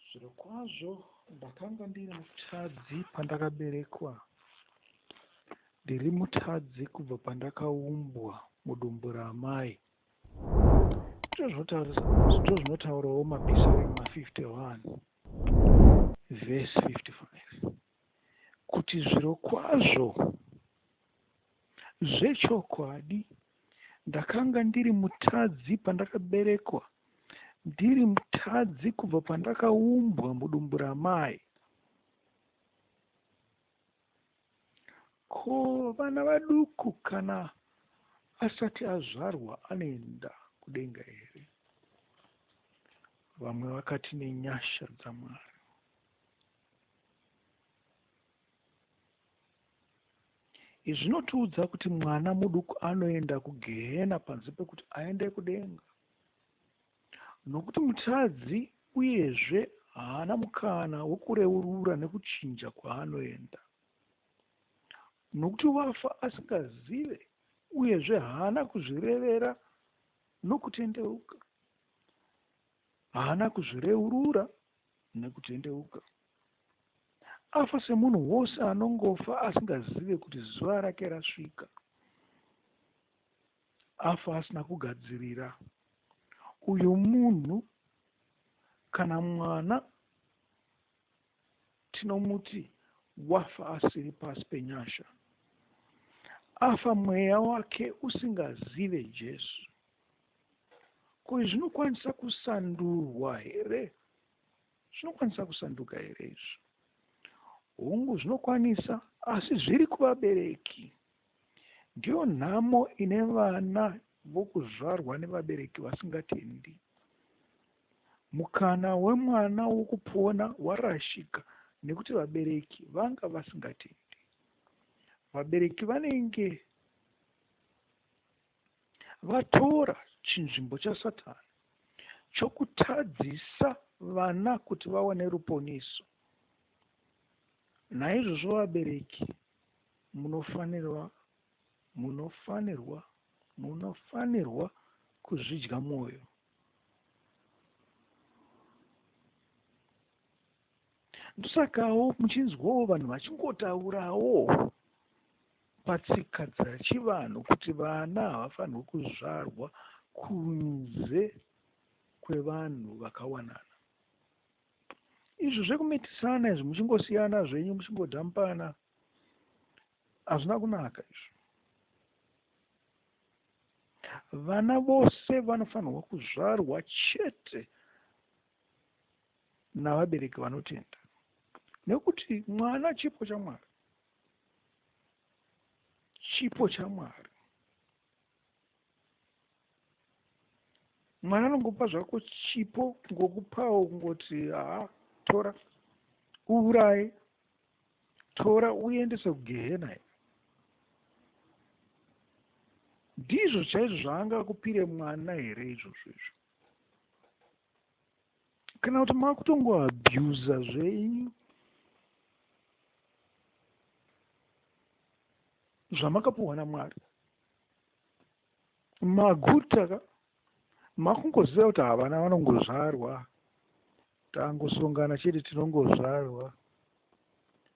Zvirokwazvo ndakanga ndiri mutadzi pandakaberekwa, ndiri mutadzi kubva pandakaumbwa mudumbu raamai. Ndozvinotaurawo mapisarema 51 vhesi 55. kuti zvirokwazvo, zvechokwadi, ndakanga ndiri mutadzi pandakaberekwa, ndiri mutadzi kubva pandakaumbwa mudumbu ramai. Ko vana vaduku kana asati azvarwa anoenda kudenga here? Vamwe vakati nenyasha dzaMwari. Izvi zvinotiudza kuti mwana muduku anoenda kugehena panze pekuti aende kudenga, nokuti mutadzi uyezve haana mukana wekureurura nekuchinja kwaanoenda, nokuti wafa asingazive uyezve haana kuzvirevera nokutendeuka. haana kuzvireurura nekutendeuka. Afa semunhu wose anongofa asingazive kuti zuva rake rasvika. Afa asina kugadzirira. Uyu munhu kana mwana tinomuti wafa asiri pasi penyasha afa mweya wake usingazive jesu Ko izvi zvinokwanisa kusandurwa here? Zvinokwanisa kusanduka here izvi? Hungu, zvinokwanisa, asi zviri kuvabereki. Ndiyo nhamo ine vana vokuzvarwa nevabereki vasingatendi. Mukana wemwana wokupona warashika nekuti vabereki vanga vasingatendi. Vabereki vanenge Vatora chinzvimbo chaSatani chokutadzisa vana kuti vawane ruponeso. Naizvozvo vabereki munofanirwa munofanirwa munofanirwa kuzvidya mwoyo. ndosakawo muchinzwawo vanhu vachingotaurawo patsika dzachivanhu kuti vana havafanirwe kuzvarwa kunze kwevanhu vakawanana izvo zvekumitisana izvi muchingosiyana zvenyu muchingodhampana hazvina kunaka izvo vana vose vanofanirwa kuzvarwa chete navabereki vanotenda nekuti mwana chipo chamwari chipo chamwari mwana anongopa zvako chipo ngokupawo kungoti haa tora uuraye tora uendese kugehena i ndizvo chaizvo zvaanga kupire mwana here izvozvo izvo kana kuti makutongo abuser zvenyu zvamakapuhwa namwari maguta ka makungoziva kuti havana vanongozvarwa tangosongana chete tinongozvarwa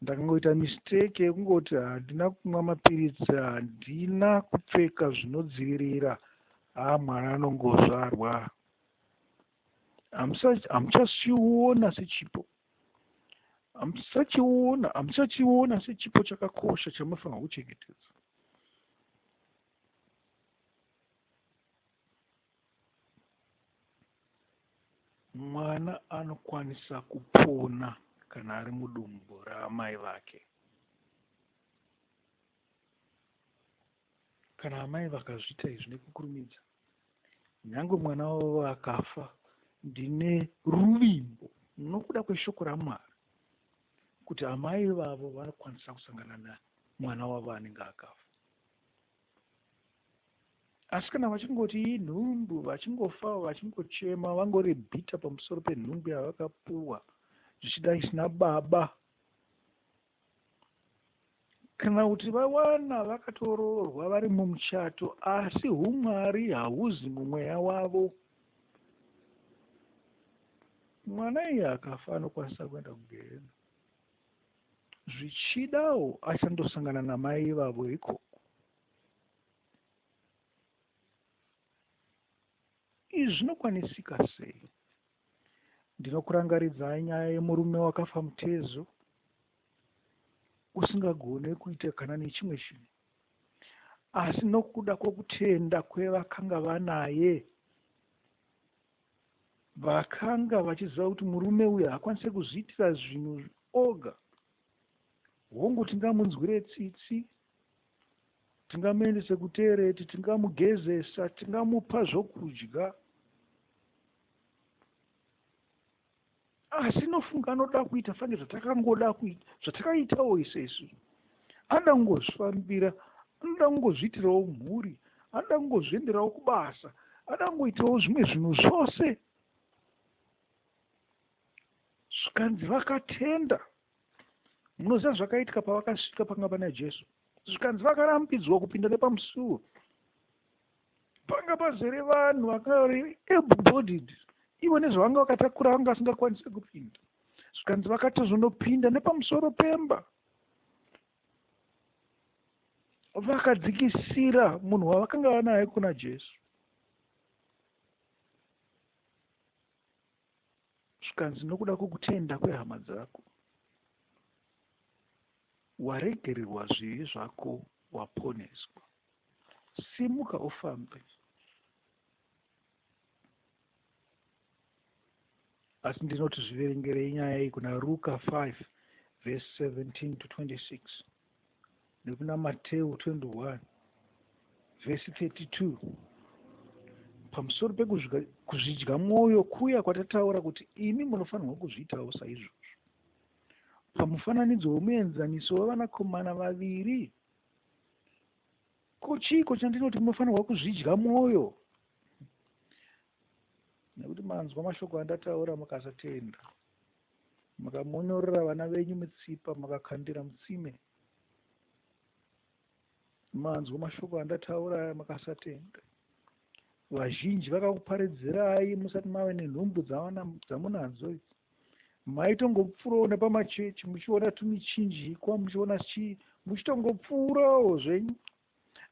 ndakangoita mistake yekungoti handina kumwa mapiritsi handina kupfeka zvinodzivirira haa mwana anongozvarwa hamuchachiona sechipo hamusachiona hamuchachiona sechipo chakakosha chamunofanirwa kuchengetedza mwana anokwanisa kupona kana ari mudumbu raamai vake kana amai vakazviita izvi nekukurumidza Nyange mwana wavo akafa, ndine ruvimbo nokuda kweshoko raMwari kuti amai vavo vanokwanisa kusangana namwana wavo anenge akafa. Asi kana vachingoti inhumbu, vachingofa, vachingochema, vangori bhita pamusoro penhumbu yavakapuwa, zvichida isina baba, Kana kuti vawana vakatoroorwa vari mumuchato asi humwari hauzi mumweya wavo. Mwana iye akafa anokwanisa kuenda kugehena. Zvichidawo achandosangana namai ivavo ikoko. Izvi zvinokwanisika sei? Ndinokurangaridzai nyaya yemurume wakafa mutezo usingagone kuita kana nechimwe chinhu, asi nokuda kwokutenda kwevakanga vanaye, vakanga vachiziva kuti murume uyu hakwanise kuzviitira zvinhu oga. Hongu, tingamunzwire tsitsi, tingamuendese kutereti, tingamugezesa, tingamupa zvokudya, asi nofunga anoda kuita fange zvatakangoda kuita zvatakaitawo ise isu anoda kungozvifambira anoda kungozviitirawo mhuri anoda kungozvienderawo kubasa anoda kungoitawo zvimwe zvinhu zvose zvikanzi vakatenda munoziva zvakaitika pavakasvika panga pana jesu zvikanzi vakarambidzwa kupinda nepamusuwo panga pazere vanhu vakari able bodied ivo nezvavanga vakatakura vanga vasingakwanise kupinda zvikanzi vakatozonopinda nepamusoro pemba vakadzikisira munhu wavakanga vanaye kuna jesu zvikanzi nokuda kwokutenda kwehama dzako waregererwa zvivi zvako waponeswa simuka ufambe asi ndinoti zviverengerei nyaya iyi kuna ruka 5 vese 17 to 26 nekuna Mateu 21 vhesi 32 pamusoro pekuzvidya mwoyo kuya kwatataura kuti imi munofanirwa kuzviitawo saizvozvo. Pamufananidzo wemuenzaniso wevanakomana vaviri, ko chiiko chandinoti munofanirwa kuzvidya mwoyo? Nekuti manzwa mashoko andataura mukasatenda. Makamonyorera vana venyu mitsipa makakandira mutsime. Manzwa mashoko andataura aya makasatenda. Vazhinji vakakuparidzirai musati mave nenhumbu dzamunadzo idzi. Maitongopfuurawo nepamachechi muchiona tumichinjikwa muchiona chii muchitongopfuurawo zvenyu.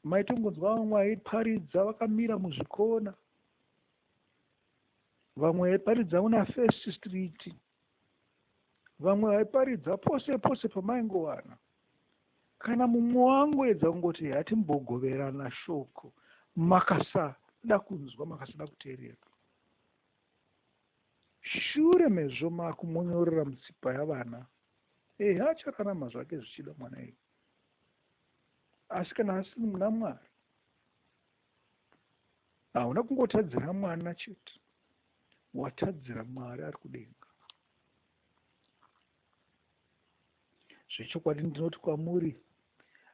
Maitongonzwa vamwe vaiparidza vakamira muzvikona. vamwe vaiparidza una first street vamwe vaiparidza pose pose pamaingowana kana mumwe wangu edza kungoti hatimbogoverana shoko makasada kunzwa makasada kuteerera shure mezvo makumonyorera mutsipa yavana ehe achararama zvake zvichida mwana iyi asi kana asiri muna mwari Hauna kungotadzira mwana chete, watadzira Mwari ari kudenga. Zvechokwadi ndinoti kwamuri,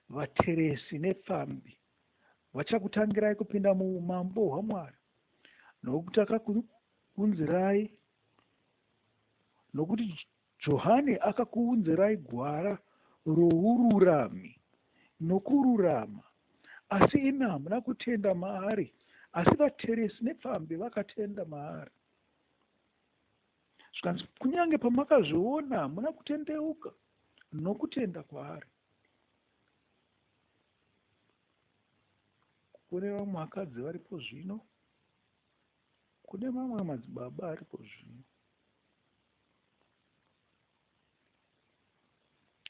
vateresi nepfambi vachakutangirai kupinda muumambo hwaMwari, nokuti akakunzirai, nokuti Johani akakuunzirai gwara roururami nokururama, asi imi hamuna kutenda maari, asi vateresi nepfambi vakatenda maari. Zvikanzi, kunyange pamakazviona hamuna kutendeuka nokutenda kwaari. Kune vamwe vakadzi varipo zvino Kune mamwe madzibaba aripo zvino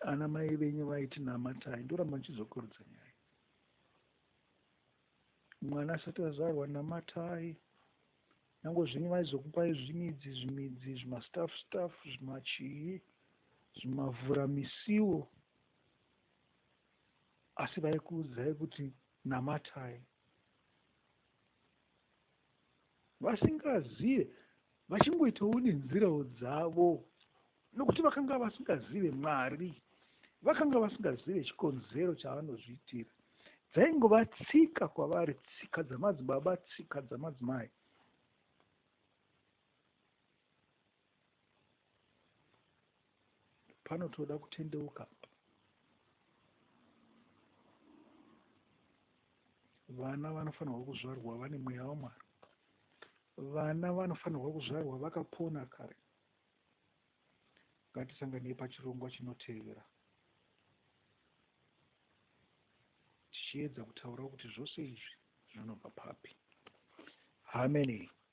ana mai venyu vaiti namatai ndoramba ndichizokurudza nyaya mwana asati azvarwa namatai nyango zvenyu vaizokupai zvimidzi zvimidzi zvimastaff staff zvimachii zvimavhura misiwo asi vaikuudzai kuti namatai vasingazive vachingoitawo nenzirawo dzavo nokuti vakanga vasingazive mwari vakanga vasingazive chikonzero chavanozviitira dzaingova tsika kwavari tsika dzamadzibaba tsika dzamadzimai panotoda kutendeuka apa vana vanofanirwa kuzvarwa vane mweya wamwari vana vanofanirwa kuzvarwa vakapona kare ngatisanganei pachirongwa chinotevera tichiedza kutaura kuti zvose izvi zvinobva papi hameni